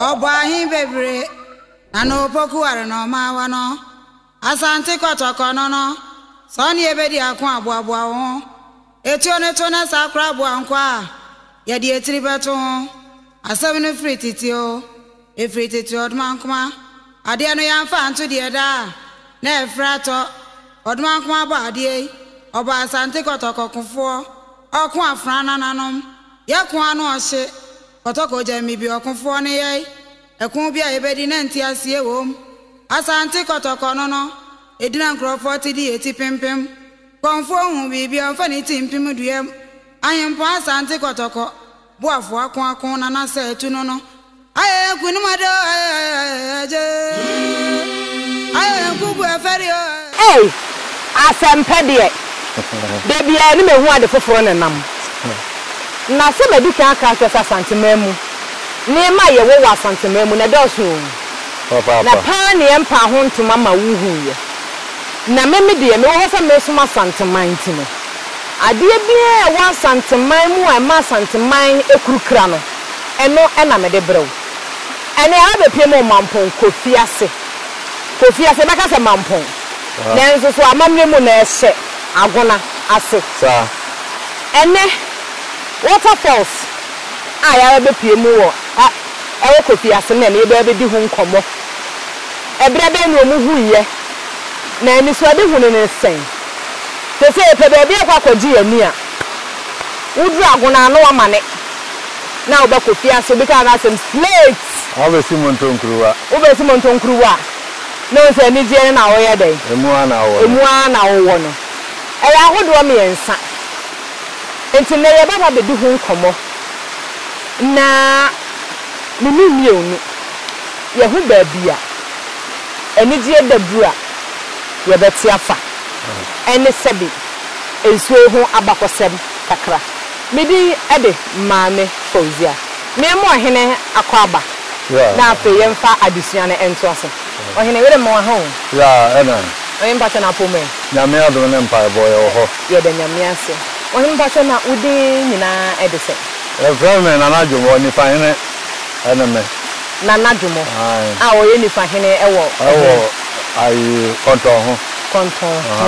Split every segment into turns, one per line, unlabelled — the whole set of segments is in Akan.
Ɔbɔ ahe bebree na na opoku ware na ɔma awa no. Asante Kɔtɔkɔ no no, sɛ ɔne yɛ bɛdi ako a, boaboa wo ho. Etuo no to na sɛ akora aboa nkɔ a, yɛde etiri bɛto ho. Asɛm no firi tete o, efiri tete Ɔdomankoma. Adeɛ no yɛamfa anto deɛ da a na ɛfrɛ atɔ. Ɔdomankoma bɔ adeɛ yi, ɔbɔ Asante Kɔtɔkɔ kofoɔ, ɔko afena nananom. Yɛ ko a na ɔhye kɔtɔkɔ gya me bi ɔkofoɔ no yɛe ɛko bi a yɛbɛdi na nteaseɛ wom Asante kɔtɔkɔ no no ɛdina nkurɔfoɔ te di ɛti pempem kɔmfoɔ hu biribi a ɔmfa ne ti mpem duam Ahempɔn Asante kɔtɔkɔ boafoɔ ako ako na na sɛ atu no no Ei, asɛmpɛ
deɛ, da biara ni mehu ade foforɔ na ɛnam. Na sɛ madi kan aka akyerɛ sɛ Asanteman mu, nneɛma a yɛwɔ wɔ Asanteman mu no ɛdɔɔso oo, na paa neɛ ɛmpaa ho ntoma ma wohuiɛ. Na me me deɛ, mewɔ hɔ sɛ meresom Asanteman nti no, adeɛ biara a ɛwɔ Asanteman mu a ɛma Asanteman akuru kra no, ɛno na mede brɛ wo. Ɛnneɛ abɛpue mu Mampong Kofi ase. Kofi ase, yɛbɛka sɛ Mampong. Nanso so amammerɛ mu no ɛhyɛ Agona ase. Saa. Ɛnnɛ, waterfalls a yɛaba bɛpue mu wɔ a ɛwɔ Kofi ase no na ɛnnɛ yɛbɛba bɛdi ho nkɔmmɔ. Ɛberɛ bɛn na wɔhuiɛ, na anisoadehunu no sɛn? Te sɛ yɛpɛ baabi akɔ akɔgye yɛn ani a, woduru Agona a na woamane. na wo ba Kofi ase obi kaa n'asɛm slate. Wo bɛ si monto
nkuruwa. Wo bɛ si monto nkuruwa
na ohu sɛ anigyeɛ no na woyɛ dɛn. Emu ara na wowɔ no. Emu
ara na wowɔ no. Ɛyɛ ahodoɔ
mmiɛnsa. Nti nnɛ yɛ bɛba abɛdi ho nkɔmmɔ na me ne wo mmienu yɛ hu baabi a anigyeɛ daduru a yɛ bɛ te afa ɛne sɛbi nsuo ho abakɔsɛm kakra. Me din de Maame Fauzia. Me mo ɔhene akwaaba. Na afei yɛn fa adesua no nto ase. Ɔhene yere mo aha o. Ya ɛna.
Ɔhene mpatsɔ na apɔmu
ɛ. Nyame adom ne
mpaebɔ yɛ wɔ hɔ. Yɛda Nyame ase.
Ɔhene mpatsɔ na wo din nyinaa ɛde sɛn. Yɛfrɛ me Nana
Dwomo, Nifa hene ɛne me. Nana Dwomo
a ɔyɛ Nifa hene ɛwɔ ɛhe. Ɛwɔ ayi
Kɔntɔn ho. Kɔntɔn ho.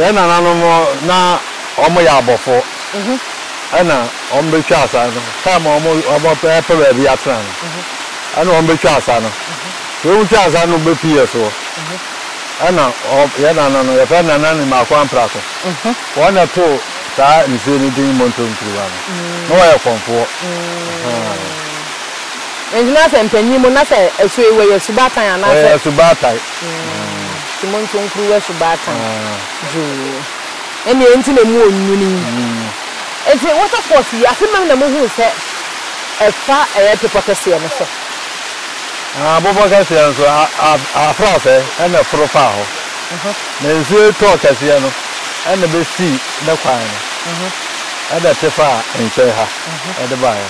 Yɛn nananom na wɔyɛ abɔfo na wɔbɛtwa asa no. Taem a wɔpɛ baabi atena no, ɛna wɔbɛtwa asa no. Nti wɔtwa asa no bɛfi yɛ so. Ɛna yɛn nana no, yɛfrɛ no Nana Nimako Amprako. Wɔn na ɛtoo saa nsuo no din Monto Ntiriwa no. Na wɔyɛ kɔmfoɔ.
Nti na sɛ mpanyin mu na sɛ asuo yi wɔyɛ asubatan anaasɛ? Wɔyɛ asubatan.
Nti
monto nkuruwa subaatan dwoo. Ɛnneɛ enti na emu wɔ nwunu yi. Nti waterfalls yi, afe mmam na mohuu sɛ ɛfa ɛyɛ bepɔ kɛseɛ no so? Haa,
bepɔ kɛseɛ no so. Afrafɛ na ɛforo faa hɔ. Na nsuo yi tɔɔ kɛseɛ no na ɛbɛsii ne kwan no, ɛna ɛte faa nkyɛn ha de baeɛ.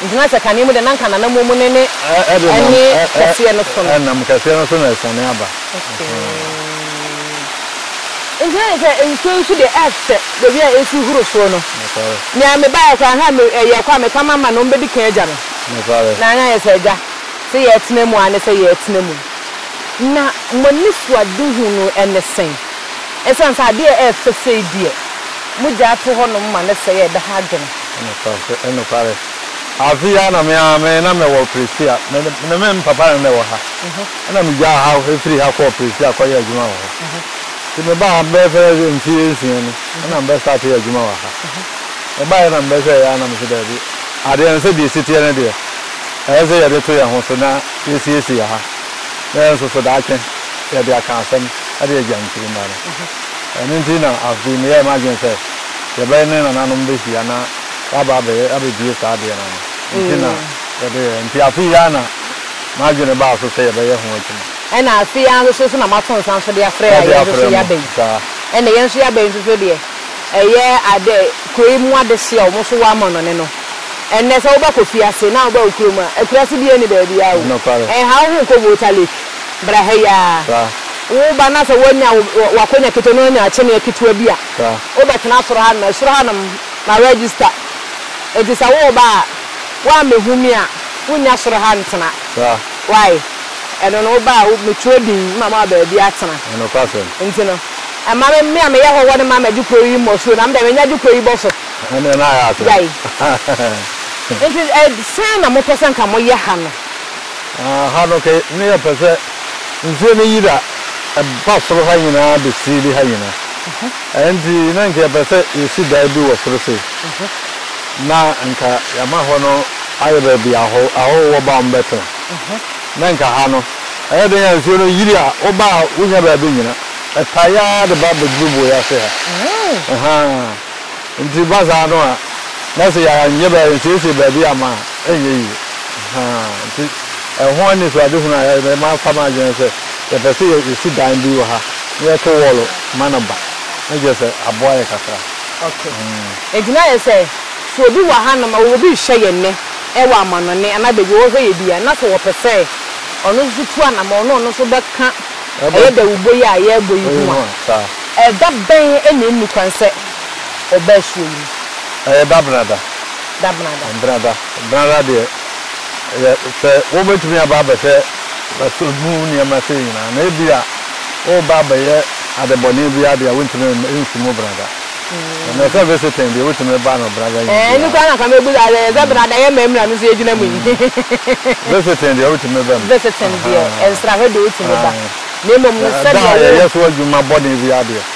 Gyina sɛ kane
mu deɛ na anka n'anammɔn mu no ne ɛne kɛseɛ no so no. Ɛdenam kɛseɛ no so na asiane aba. Okay. Nti na ne sɛ nsuo nso deɛ ɛsɛ baabi a ɛsi horo soɔ no. Nokware. Nea mebaeɛ koraa ha me ɛyɛ kɔ a meka mama no ɔmbɛdi kan agya me. Nokware. Na anyɛ sɛ agya sɛ yɛtena mu a ne sɛ yɛtena mu. Na mo anisoadehu no ne sɛn? Ɛsiane sɛ adeɛ a ɛfɛ sei deɛ mogyaa to hɔnom ma no sɛe a ɛbɛha adwene. Nokware, nokware.
Afe yi ara na me ara me na mewɔ Prestea. Me ne me papa na na ɛwɔ ha. Ɛna migyaa ha, efiri ha kɔɔ Prestea kɔyɛɛ adwuma wɔ hɔ. Nti mebaa ha bɛyɛ sɛ mfe nsia ni, ɛna mebɛstartee adwuma wɔ ha. Mebaeɛ na mebɛhwɛeɛ ara na mese daabi, adeɛ no sɛdeɛ ɛsi teɛ no deɛ, ɛyɛ sɛ yɛde to yɛn ho so na yɛsiesie ha na yɛn nso so daakye yɛde aka asɛm de agya nkyirimma no. Ɛno nti na afe yi meyɛɛ m'adwene sɛ yɛbɛyɛ ne nananom bɛhyia na waba abɛyɛ abɛbie saa adeɛ no ano nti na yɛde yɛɛ nti afei yi ara na m'adwene baa so sɛ yɛbɛyɛ ho adwuma. Ɛna afei yi ara nso
so so na mato nsa nso de afrɛ a yɛn nso so yɛaba yi ɛna yɛn nso yɛaba yi nso so deɛ ɛyɛ ade kuro yi mu adehyeɛ a wɔn nso wɔ amɔnɔne no ɛnnɛ sɛ wobɛ kɔ fiase na wobɛ wɔ kurom a akuraase biara nni baabi ara o ɛnha wo ho nkɔ Volta Lake bra ha yi ara woba na sɛ woanya wo akonya ketewa na woanya akyeneɛ ketewa bi a Wobɛtena soro hanom a, soro hanom na register. Enti sɛ woreba a, woammɛhu me a, wonnya soro ha ntena. Wai? Ɛno no, woba a, metwerɛ din na mama wo baabi atena. Enti no, ɛma me, me a meyɛ hɔhoɔ no ma magye kuro yi mmɔ soro, na me deɛ mɛnya agye kuro yi bɔ so.
Gyae.
Enti ɛdeɛn na mopɛ sɛ nka moyɛ ha no? Ha
no, nka meyɛ pɛ sɛ. nsuo no yira ba soro ha nyinaa de siili ha nyina ɛɛ nti na nka yɛpɛ sɛ yɛsi dan bi wɔ soro sei na nka yɛama hɔ no ayɛ baabi ahɔ ahɔho wɔ ba wɔn bɛtena na nka ha no ɛyɛ den a nsuo no yiri a woba a wonya baabi nyina ɛtae ara de ba bɛduru boe ase ha ɛhaa. Nti ba saa no a na sɛ yɛanyɛ bɛa yɛnsiesie baabi amma a ɛnyɛ yie ahaa nti ɛho anisoadehunu a yɛayɛ no mafa m'adwene sɛ yɛpɛ sɛ yɛsi dan bi wɔ ha na yɛto wɔɔlo ma no ba na kyerɛ sɛ aboa yɛ kakra. Ok.
Nti na ayɛ sɛ sɛ obi wɔ hanom a obi rehwɛ yɛn nnɛ ɛwɔ amanɔne anaa baabi a wɔrehwɛ yɛn bi a na sɛ wɔpɛ sɛ ɔno nso tu anamɔn na ɔno nso bɛka ɛyɛ dawubɔ yi a yɛrebɔ yi ho a, ɛda bɛn na ɛnni kwan sɛ ɔba asuo yi mu? Ɛyɛ Dabenada.
Dabenada. Dabenada. Dabenada deɛ yɛ sɛ wobɛtumi aba abɛhwɛ ɛso mu nneɛma sei nyinaa na ebi a woba abɛyɛ adebɔne bi adeɛ a wontumi nsi mu Benada. Mm. Na sɛ visiting deɛ wotumi ba no Benada yi. Ɛɛ ne kura na kame bu
da yɛ sɛ Benada yɛ mɛ mura no so egyina mu yi. Visiting
deɛ wotumi ba mu. Visiting deɛ
nsrahwɛ deɛ wotumi ba. Na mmom no sɛ deɛ yɛ yɛ so adwuma
bɔne bi adeɛ.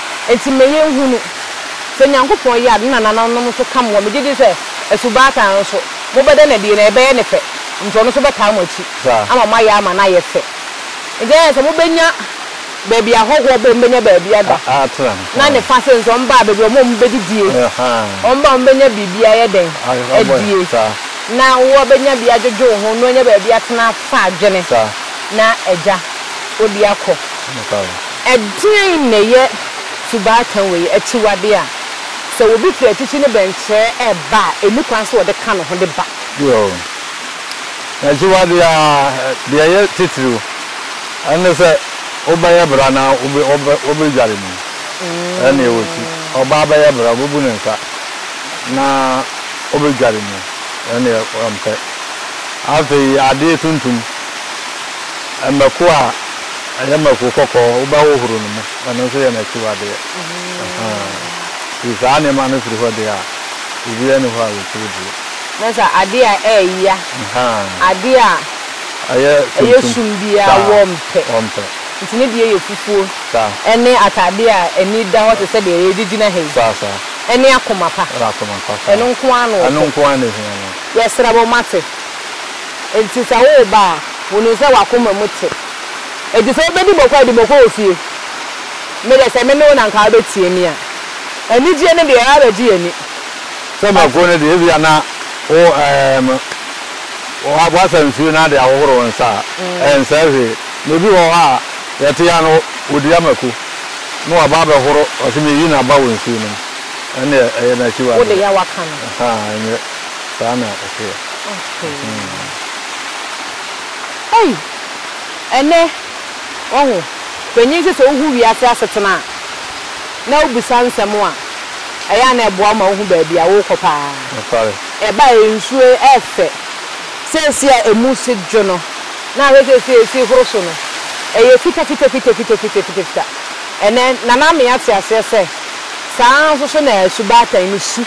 Enti
ma yɛnhunu. Sɛ Nyankopɔn yɛ a, ne nanananom nso ka mo ho. Megye di sɛ, asubaatan nso, mobɛda no adi, na ɛbɛyɛ ne fɛ, enti ɔno nso bɛtaa mo akyi ama moayɛ ama no ayɛ fɛ. Enti ɛyɛ sɛ mobɛnya baabi a ahɔhoɔ bom bɛnya baabi ada, na ne fa sɛ nso wɔba a, baabi a wɔma wɔbɛdidie, wɔba a wɔbɛnya biribi ayɛ dɛn? adie, na wɔabɛnya biribi adwodwo wo ho, na wɔanya baabi atena afa adwene, na agya, wode akɔ. Ɛdeɛn na ɛyɛ subaatan wei, akyiwadeɛ a sɛ obi firi akyikyi ne bɛnkyerɛ reba a, ɛnni kwan sɛ ɔde ka ne ho de ba? Yoo,
akyiwadeɛ ara. Deɛ ɛyɛ titiriw ne sɛ wobɛyɛ bra na wobɛdware mu. Ɛnna ɛwɔ ti. Ɔbaa bɛyɛ bra, ɔbɛbu ne nsa na ɔbɛdware mu. Ɛnna ɔmpɛ. Afei adeɛ tuntum, mako a. Ɛyɛ mako kɔkɔɔ, wobɛhohoro no mu, ɛno nso yɛ n'akyiwadeɛ. Nti saa nneɛma no firi hɔ deɛ a, biribiara nni hɔ a wɔtumi die. Na sɛ
adeɛ a ɛyɛ ya, adeɛ a ɛyɛ sum biara a, wɔmpɛ. Nti ne deɛ yɛ fufuo, ɛne atadeɛ a ani da hɔ te sɛ deɛ yɛgyina ha yi, ɛne akoma pa. Ɛno nko ara na wɔpɛ. Yɛsrɛ mo, moate? Nti sɛ woreba a, wɔnim sɛ w'akoma mu te. Enti sɛ wobɛdi bɔkɔ a, di bɔkɔ wɔ fie. Me deɛ, sɛ me ne wo na anka wobɛtie me a. Anigyeɛ no deɛ, abɛgye yɛn ani. Sɛ mako
no deɛ, ebia na wo, ɛɛm, woasa nsuo na ade ahohoro wo nsa a, ɛnsɛe hwee. Na ebi wɔ hɔ a, yɛte a na wɔdua mako na wɔaba abɛhoro, wɔse meyi no aba wɔ nsuo no mu. Ɛnneɛ, ɛyɛ no akyiwadeɛ. Wo de yɛ a woaka no. Ahaa,
ɛnyɛ
saa na ɛteɛ. Okay. Ei!
Ɛnnɛ, wahu. Panyin sɛ sɛ wohu wiase asetena a, na wobisa nsɛm a, ɛyɛ a na ɛboa wo ma wohu baabi a worekɔ paa. Nokware. Ɛba a, nsu yi yɛ fɛ. Seesei a emu si dwo no, na ahwɛ seesei a esi horo so no, ɛyɛ fitafitafitafitafitafitafita. Ɛnnɛ, Nana Amee ate aseɛ sɛ, saa ara nso so na subaatan no su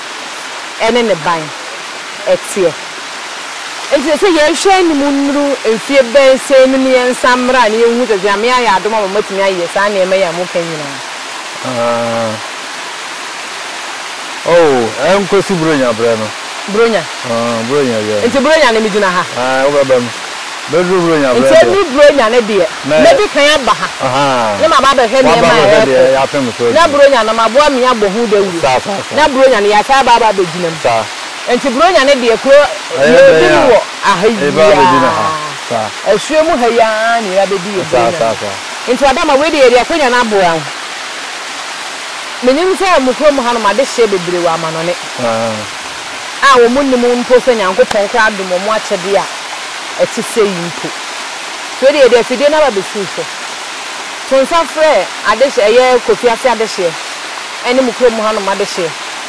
ne ne ban teɛ. Enti ɛsɛ sɛ yɛhwɛ anim nnuru mfeɛ bɛn sɛn mu na yɛnsan mmra na yɛnhu sɛ Nyame ayɛ adom ama moatumi ayɛ saa nneɛma yi a moka nyinaa. Aah
oh, ɛnkosi Buronya berɛ no. Buronya? Aah,
Buronya
yɛ. Nti Buronya no megyina ha?
Aah, wobɛba mu.
Bɛduru Buronya berɛ deɛ. Nti ɛduru Buronya no deɛ,
mɛdi kan aba ha. Ahaa. Na maba abɛhwɛ nneɛma a ɛrekɔ. Waba abɛhwɛ deɛ yɛapem so awie.
Na Buronya no maboa me
abɔ ho dawuro. Saa, saa, saa. Na Buronya no yɛasan aba abɛgyina mu. Saa. Enti Buronya no deɛ kuro yɛredi mu wɔ aha yi ara,
asuo mu ha yi ara
na yɛba bɛdi yɛn Buronya no.
Nti Adama
wei deɛ yɛde akwanya no aboa wo. Menim sɛ mo kurom hanom adehyeɛ bebree wɔ amanɔne a wɔn nnim mpo sɛ Nyankopɔn koraa adom wɔn akyɛdeɛ a ɛte sei mpo. Wei deɛ yɛde afidie no aba bɛsi wo so. To nsa frɛ adehye ɛyɛ Kofi Ase adehyeɛ ɛne mo kurom hanom adehyeɛ.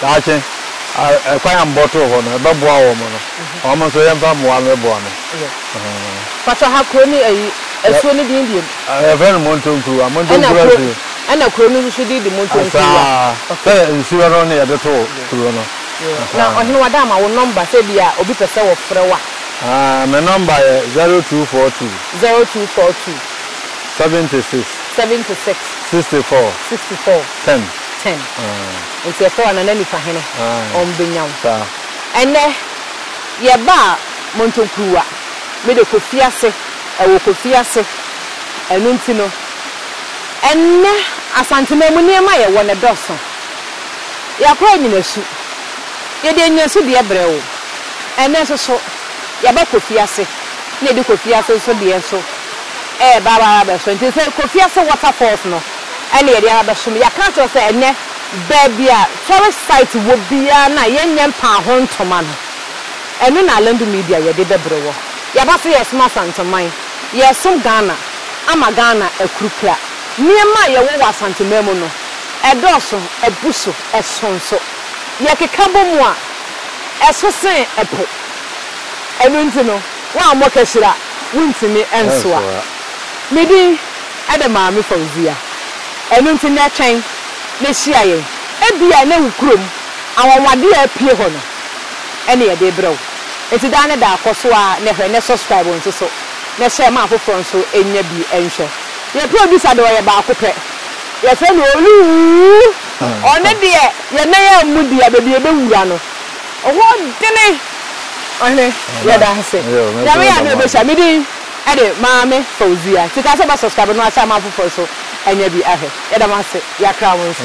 Daakye, a kwan a mobɔtoo hɔ no, ɛbɛboa wɔn no, wɔn nso yɛmfa mmoa no ɛboa no. Yɛ. Pakyɛ
ha kuro ne ayi asuo ne din deɛ mu. Yɛfrɛ no Montonkuruwa,
Montonkuruwa asuo. Ɛna kuro no
nso din de Montonkuruwa. Asaa, sɛ nsuo no
ne yɛde too kuro no. Na ɔhene
wada ama wo nɔmba sɛ bi a obi pɛ sɛ wɔfrɛ wo a. Aa, me nɔmba
yɛ zero two four two. Zero two four two. Seventy six. Seventy six. Sixty four. Sixty four. Ten. Ten.
Aa. Nti ɛtɔ a Nana Nifa hene ɔn bɛ nya wo. Ɛnɛ yɛ ba a montɔn kuruwa me de kɔ fiase ɛwɔ kɔ fiase ɛno nti no ɛnɛ Asantema mu nneɛma yɛ wɔ no dɔso yɛ kora nyina su yɛ de nyina su deɛ brɛ wo ɛnɛ nso so yɛ ba kɔ fiase na yɛ de kɔ fiase nso deɛ nso ɛɛba aba abɛ so nti sɛ kɔ fiase water falls no. ɛna yɛde aba abɛsom. Yɛaka akyerɛ wo sɛ ɛnnɛ baabi a tourist site wɔ biara no a yɛnyɛ mpaaho ntoma no, ɛno na Alendu Media yɛde bɛbrɛ wɔ. Yɛaba sɛ yɛresom Asanteman, yɛresom Ghana ama Ghana akuru kra. Nneɛma a yɛwɔ wɔ Asanteman mu no, ɛdɔɔso, abu so, ɛso nso. Yɛkeka bɔ mu a, ɛso sen ɛpo. Ɛno nti no, woammɔ kahyira a, wontumi nsoa. Me din. Ɛde Maame Fauzia. Ɛno nti nnɛ twɛn na hyia yɛn. Ebia ɛnnɛ wo kurom anwanwadeɛ a apue hɔ no na yɛde rebrɛ wo. Enti daa ne daa kɔ so ara na hwɛ na subscribe nso so na hyɛ ma afoforɔ nso nya bi nhwɛ. Yɛn producer deɛ ɔyɛ baako pɛ. Yɛfrɛ no Oluwuu. Ɔno deɛ yɛn nan ammu deɛ baabi a yɛbɛwura no hɔ dene. Ɔhene yɛda ase. Nyame yɛ adom a yɛbɛhyia. Me din. Ɛde maame fauzia sika sɛ ɔbɛ subscribe no ase ama afoforɔ nso anya bi ahwɛ yɛda mo ase yakra mo nso.